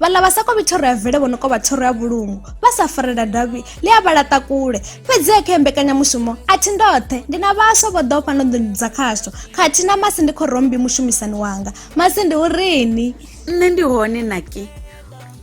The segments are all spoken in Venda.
vhaḽa vha sa kovhi thoro ya vele vho no kovha thoro ya vhulungu vha sa farela davhi ḽi a vha laṱa kule fhedzi kha mbekanyamushumo a thi ndoṱhe ndi na vhaswa vho ḓo fhano nḓuni dza khasho khathihi na masi ndi khorombi mushumisani wanga masi ndi u rini nṋe ndi hone naki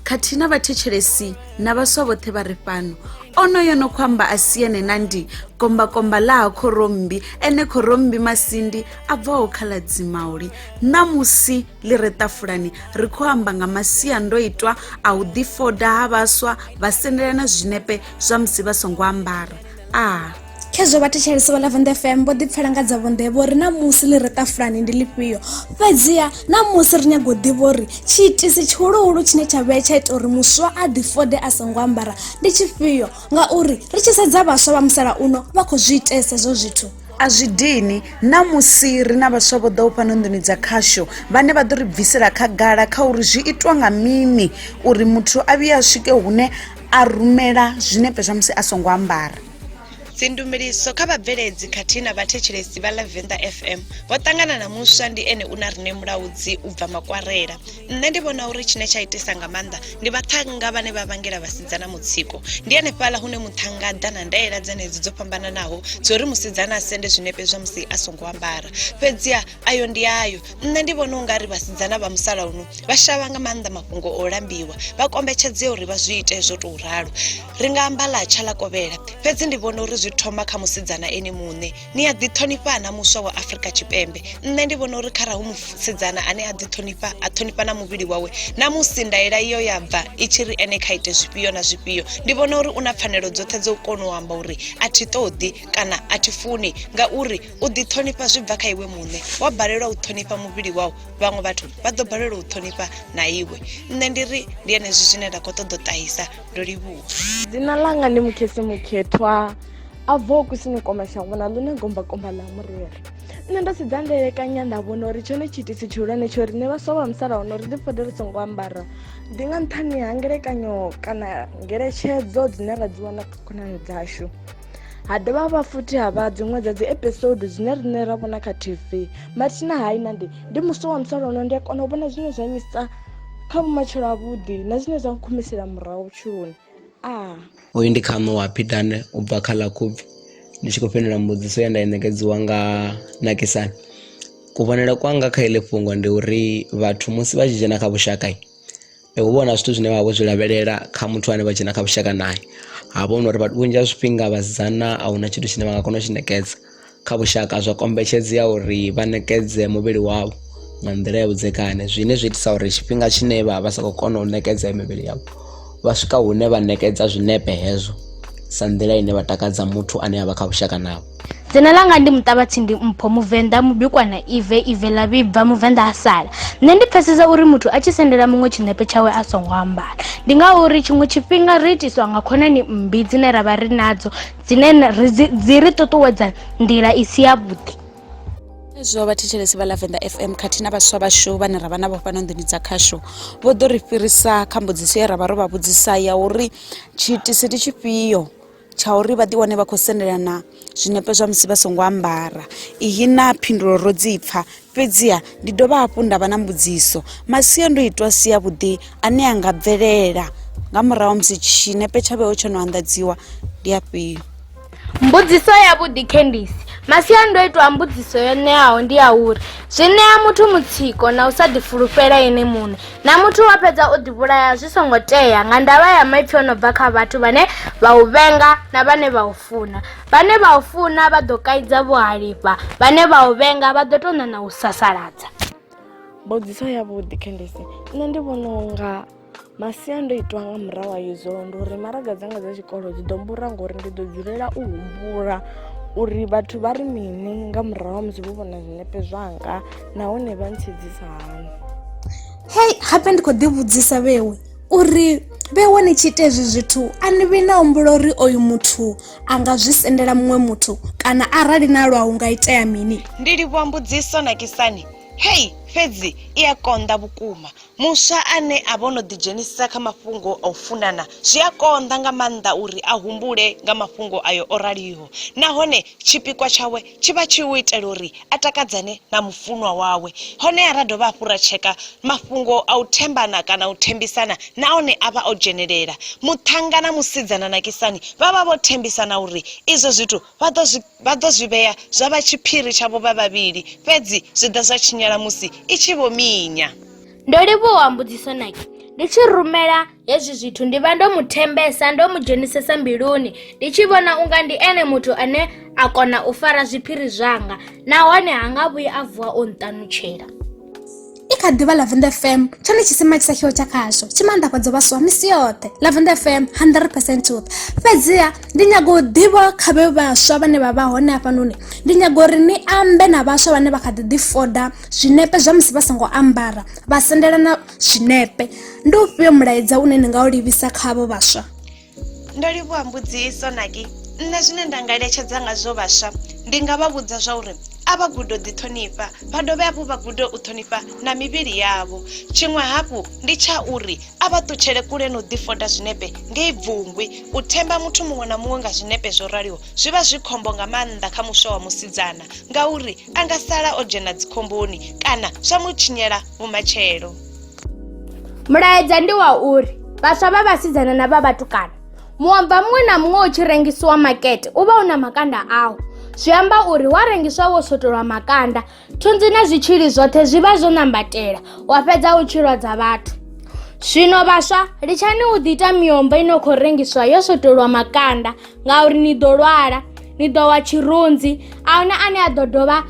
khathihi na vhathetshelesi na vhaswa vhoṱhe vha ri fhano onoyo no khou amba a si ene na ndi kombakomba ḽa ha khorombi ene khorombi masindi a bvaho kha ḽa dzimauli ṋamusi ḽi re ṱafulani ri khou amba nga masiandoitwa a u ḓifoda ha vhaswa vha sendelana zwinepe zwa musi vha songo ambara a khezwo vhathetshelesi vha lavenda fm vho ḓipfela nga dza vhonḓe vho ri na musi ḽi re ṱafulani ndi lifhio fhedziha na musi ri nyago u ḓivha uri tshiitisi tshihuluhulu tshine tsha vhea tsha ita uri muswa a ḓifode a songo ambara ndi tshifhio ngauri ri tshi sedza vhaswa vha musalauno vha khou zwi itesa hezwo zwithu a zwi dini ṋamusi ri na vhaswa vho ḓaho fhano nḓuni dza khasho vhane vha ḓo ri bvisela khagala kha uri zwi itwa nga mini uri muthu a vhuye a swike hune a rumela zwinepe zwa musi a songo ambara dzindumeliso kha vhabveledzi khathihi na vhathetshelesi vha lavenda fm vho ṱangana na muswa ndi ene u na rine mulaudzi u bva makwarela nṋe ndi vhona uri tshine tsha itisa nga maanḓa ndi vhaṱhannga vhane vha vhangela vhasidzana mutsiko ndi hanefhala hune muṱhannga ḓa na ndaela dzenedzo dzo fhambananaho dzo ri musidzana a sende zwinepe zwa musi a songo ambara fhedziha ayo ndi ayo nṋe ndi vhona u nga ri vhasidzana vha musalauno vha shavha nga maanḓa mafhungo o lambiwa vha kombetshedzea uri vha zwi ite zwo tou ralo ri nga amba ḽa tsha ḽa kovhela fhedzi ndi vhona uri zwi thoma kha musidzana ene muṋe ni a ḓiṱhonifha na muswa wa afrika tshipembe nṋe ndi vhona uri kharahu musidzana ane a ḓiṱhonifha a ṱhonifha na muvhili wawe na musi ndaela iyo ya bva i tshi ri ene kha ite zwifhio na zwifhio ndi vhona uri u na pfanelo dzoṱhe dzo kona u amba uri a thi ṱoḓi kana a thi funi ngauri u ḓiṱhonifha zwi bva kha iwe muṋe wa balelwa u ṱhonifha muvhili wau vhaṅwe vhathu vha ḓo balelwa u ṱhonifha na iwe nṋe ndi ri ndi enezwi zwine nda khou ṱoḓa u ṱahisa ndo livhuwa dzina langa ndi mukhesi mukhethwa a bvaho kusini kwa mashango na ḽone gombakomba ḽa murere nṋe ndo sedza ndelekanya nda vhona uri tshone tshiitisi tshihulwane tsho riṋe vhaswa vha musalauno ri ḓi fode ri songo ambara ndi nga nṱhani ha ngelekanyo kana ngeletshedzo dzine ra dzi wana kha khonani dzashu ha dovha ha vha futhi ha vha dziṅwe dza dzi episode dzine riṋe ra vhona kha tv mathina hai na ndi ndi muswa wa musalauno ndi a kona u vhona zwine zwa nyisa kha vhumatshelo avhuḓi na zwine zwa nkhumisela murahu vhutshiloni a. Uyu ndi khaṋo wa Phidane u bva kha ḽa Khubvi. Ndi tshi khou fhindula mbudziso ye nda i ṋekedziwa nga Nakisani. Kuvhonele kwanga kha iḽi fhungo ndi uri vhathu musi vha tshi dzhena kha vhushaka hu vha na zwithu zwine vha vha vho zwi lavhelela kha muthu ane vha dzhena kha vhushaka naye ha vha hu na uri vhunzhi ha zwifhinga vhasidzana a huna tshithu tshine vha nga kona u tshi ṋekedza kha vhushaka zwo kombetshedzea uri vha ṋekedze muvhili wavho nga nḓila ya vhudzekani zwine zwa itisa uri tshifhinga tshine vha vha sa khou kona u ṋekedza mivhili yavho vha swika hune vha ṋekedza zwinepe hezwo sa nḓila ine vha takadza muthu ane a vha kha vhushaka navho dzina langa ndi muṱavhatsindi mpho muvenḓa mubikwa na ive ive ḽa vhibva muvenḓa a sala nṋe ndi pfesesa uri muthu a tshi sendela muṅwe tshinepe tshawe a songo ambala ndi ngauri tshiṅwe tshifhinga ri itiswa nga khonani mmbi dzine ra vha ri nadzo dzine ri dzi ri ṱuṱuwedza nḓila i si yavhuḓi zwo vha thetshelesi vha lavenda fm khathihi na vhaswa vhashu vhane ra vha navho fhano nḓuni dza khashu vho ḓo ri fhirisa kha mbudziso ye ra vha ro vha vhudzisa ya uri tshiitisi ndi tshifhio tsha uri vha ḓiwane vha khou sendelana zwinepe zwa musi vha songo ambara iyi na phindulo ro dzi pfha Fhedziha ndi dovha hafhu nda vha na mbudziso. Masiandoitwa a si avhuḓi ane a nga bvelela nga murahu ha musi tshinepe tsha vheo tsho no anḓadziwa ndi afhio? Mbudziso yavhuḓi Candice. Masiandoitwa a mbudziso yo ṋeaho ndi a uri zwi ṋea muthu mutsiko na u sa ḓifulufhela ene muṋe na muthu wa fhedza o ḓivhulaya zwi songo tea nga ndavha ya maipfi o no bva kha vhathu vhane vha u vhenga na vhane vha u funa vhane vha u funa vha ḓo kaidza vho halifha vhane vha u vhenga vha ḓo tou ṋana u sasaladza mbudziso yavhuḓi khendisi nṋe ndi vhona unga masiandoitwa nga murahu a izwo ndi uri maraga dzanga dza tshikolo dzi ḓo mbura ngori ndi ḓo dzulela u humbula uri vhathu vha ri mini nga murahu musi vho vhona zwinepe zwanga nahone vha ntshedzisa hani hei gape ndi khou ḓivhudzisa vhewe uri vhe wani tshi ita ezwi zwithu a ni vhi na humbula uri oyu muthu a nga zwi sendela muṅwe muthu kana arali na lwa hu nga itea mini ndi livhuwa mbudziso na kisani hei fhedzi i a konḓa vhukuma muswa ane a vha o no ḓidzhenisa kha mafhungo a u funana zwi a konḓa nga maanḓa uri a humbule nga mafhungo ayo o raliho nahone tshipikwa tshawe tshi vha tshi u itela uri a takadzane na mufunwa wawe. Honeha ra dovha hafhu ra tsheka mafhungo a u thembana kana u thembisana na one a vha o dzhenelela. Muṱhannga na musidzana Nakisani vha vha vho thembisana uri izwo zwithu vha ḓo zwi vha ḓo zwi vhea zwa vha tshiphiri tshavho vha vhavhili, fhedzi zwi ḓa zwa tshinyala musi i tshi vho minya. Ndo livhuwa mbudziso Naki, ndi tshi rumela. Hezwi zwithu ndi vha ndo mu thembesa, ndo mu dzhenisesa mbiluni, ndi tshi vhona unga ndi ene muthu ane a kona u fara zwiphiri zwanga nahone ha nga vhuyi a vuwa o nṱanutshela. i kha ḓivha lavender fm tshone tshisima tshi sa tshiho tsha khasho tshi maanḓafhadza vhaswa misi yoṱhe lavender fm 100 percent truth fhedziha ndi nyago u ḓivha kha vhe vhaswa vhane vha vha hone hafhanoni ndi nyago uri ni ambe na vhaswa vhane vha kha ḓi ḓifoda zwinepe zwa musi vha songo ambara vha sendelana zwinepe ndi ufhio mulaedza une ni nga u livhisa khavho vhaswa ndo livhuwa mbudziso naki nṋe zwine nda nga eletshedza ngazwo vhaswa ndi nga vha vhudza zwa uri a vha gudo ḓiṱhonifha vha dovhe hafhu vha gude u ṱhonifha na mivhili yavho tshiṅwe hafhu ndi tsha uri a vha ṱutshele kule na u ḓifoda zwinepe ngei bvungwi u themba muthu muṅwe na muṅwe nga zwinepe zwo raliho zwi vha zwi khombo nga maanḓa kha muswa wa musidzana ngauri a nga sala o dzhena dzikhomboni kana zwa mu tshinyela vhumatshelo mulaedza ndi wa uri vhaswa vha vhasidzana na vha vhatukana muomva muṅwe na muṅwe u tshi rengisiwa makete u vha u na makanda awo zwi amba uri wa rengiswa wo swotolwa makanda thunzi na zwitshili zwoṱhe zwi vha zwo nambatela wa fhedza u tshi lwadza vhathu zwino vhaswa litshani u ḓi ita miombo i no khou rengiswa yo swotolwa makanda ngauri ni ḓo lwala ni ḓo wa tshirunzi a huna ane a ḓo dovha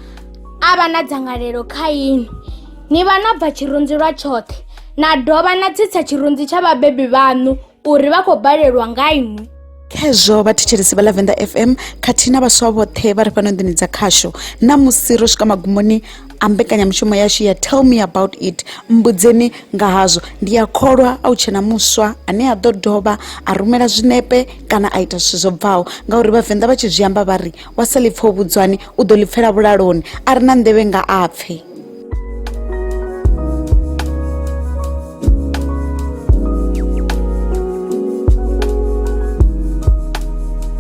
a vha na dzangalelo kha inwi ni vha no bva tshirunzi lwa tshoṱhe na dovha na tsitsa tshirunzi tsha vhabebi vhaṋu uri vha khou balelwa nga inwi khezwo vhathetshelesi vha lavenda fm khathihi na vhaswa vhoṱhe vha ri fhano nḓini dza khasho na musi ro swika magumoni a mbekanyamushumo yashu ya tell me about it mbudzeni nga hazwo ndi a kholwa a u tshena muswa ane a ḓo dovha a rumela zwinepe kana a ita zwithu zwo bvaho ngauri vhavenḓa vha tshi zwi amba vha ri wa sa ḽipfa u vhudzwani u ḓo ḽipfela vhulaloni a ri na nḓevhe nga a pfe